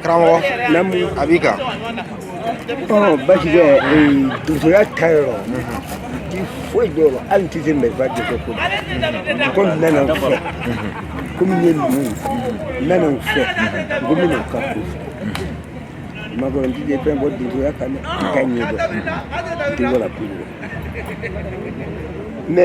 karamɔgɔ a b'i kan basi tɛ donsoya ta yɔrɔ ti foyi dɔ la hali ti se mɛba de kɛ ko ko n nana n fɛ komi n ye numu ye n nana n fɛ ko n bɛna n ka ko fɛ maakɔrɔ n ti de fɛn bɔ donsoya kan dɛ i ka ɲɛ dɔn i tɛ wala ko dɔn mɛ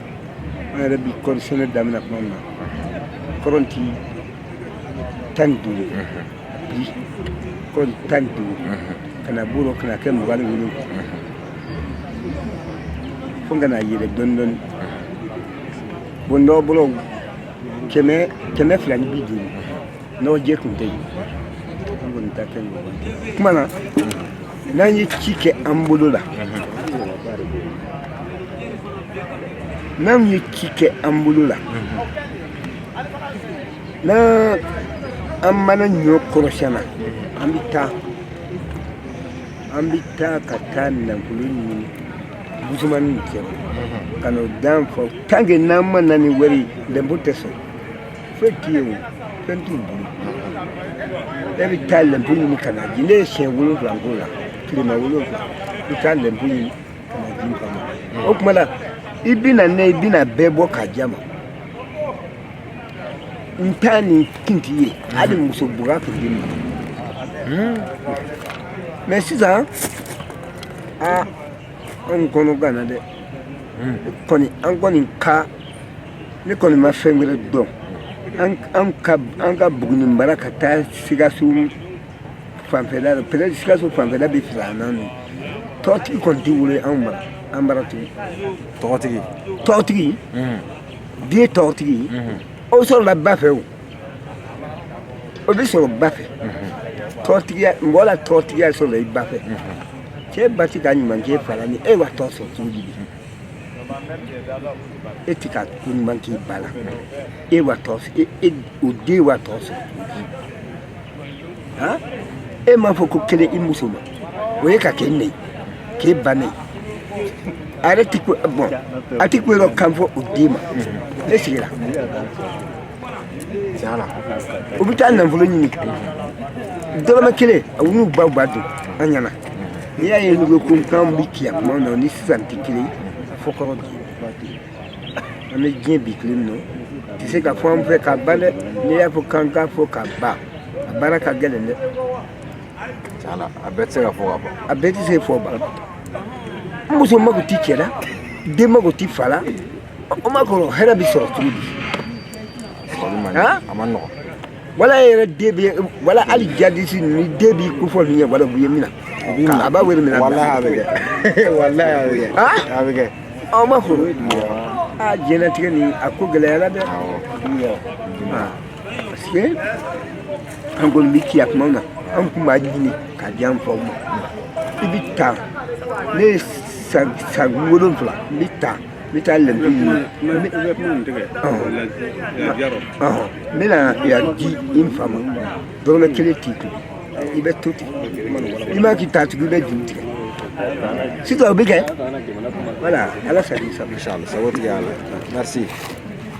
an yɛrɛ bi kɔɔri sɛnɛ daminɛ kuma min na kɔɔri tun ye tan ni duuru bi kɔɔri tan ni duuru ka na b'o la ka na kɛ mugan ni wolonwula fo ka na yɛlɛ dɔɔni dɔɔni bon dɔw bolo kɛmɛ fila ni bi duuru n'o je kun tɛ yen an kɔni ta kɛ ɲɔgɔn kuma na n'an ye ci kɛ an bolo la n'an ye ci kɛ an bolo la n'an an mana ɲɔ kɔrɔsiyɛn an bɛ taa an bɛ taa ka taa nafolo ɲini busumani kɛ ka n'o dan fɔ tanke n'an ma na ni wari ye lɛnpo tɛ sɔrɔ foyi t'i ye o fɛn t'u bolo e bɛ taa lɛnpo ɲini ka n'a di ne ye siɲɛ wolonwula k'o la tilema wolonwula i bɛ taa lɛnpo ɲini ka n'a di ka ma o tuma la i bɛna ne i bɛna bɛɛ bɔ k'a di a ma n t'a ni kun t'i ye hali muso buga tun bɛ ma mɛ sisan aa anw kɔnɔ ganna dɛ kɔni an kɔni ka ne kɔni ma fɛn wɛrɛ dɔn an ka buguni mara ka taa sikaso fanfɛla peut-être sikaso fanfɛla bɛ filanan don tɔgɔtigi kɔni tɛ wolo an bara tugun tɔgɔtigi den tɔgɔtigi o sɔrɔla ba fɛ o o bɛ sɔrɔ ba fɛ tɔgɔtigiya mɔgɔ la tɔgɔtigiya sɔrɔla i ba fɛ cɛ ba tɛ ka ɲuman k'e fa la ni e wa tɔgɔ sɔrɔ cogo di e tɛ ka ko ɲuman k'i ba la e wa tɔgɔ e, e o den wa tɔgɔ sɔrɔ han e m'a fɔ ko kelen i muso ma o ye ka k'e neni k'e ba neni a yɛrɛ tɛ ko bɔn a tɛ ko yɔrɔ kan fɔ o den ma e sigira tiɲɛ la u bɛ taa nafolo ɲini dɔrɔmɛ kelen a u n'u baw b'a dun an ɲɛna n'i y'a ye n'u bɛ ko kan bɛ tiɲɛ kuma na ni sisan tɛ kelen fo kɔrɔ bi an bɛ diɲɛ bi tile min nɔ tɛ se ka fɔ an fɛ ka ban dɛ n'i y'a fɔ k'an k'a fɔ ka ban a baara ka gɛlɛn dɛ a bɛɛ tɛ se ka fɔ ka ban a bɛɛ tɛ se fɔ ban n muso mago tɛ cɛ la den mago tɛ fa la o ma kɔrɔ hɛrɛ bɛ sɔrɔ cogo di wala yɛrɛ den bɛ wala hali jadisi ni den b'i ko fɔ ninnu ye wala u ye min na a b'a wele minɛ walayi a bɛ kɛ walayi a bɛ kɛ a bɛ kɛ aw ma fɔ aa diɲɛlatigɛ nin a ko gɛlɛyara dɛ parce que an kɔni bɛ ci a kumaw na an kun b'a ɲini ka di an faw ma i bɛ taa ne ye san wolonwula n bɛ taa mi ta le bi mi mi na ya di n fa ma dɔrɔmɛ kelen t'i kun i bɛ to ten i ma k'i ta tugu i bɛ juru tigɛ sisan o bɛ kɛ voilà ala sago i sago sago tigɛ a la merci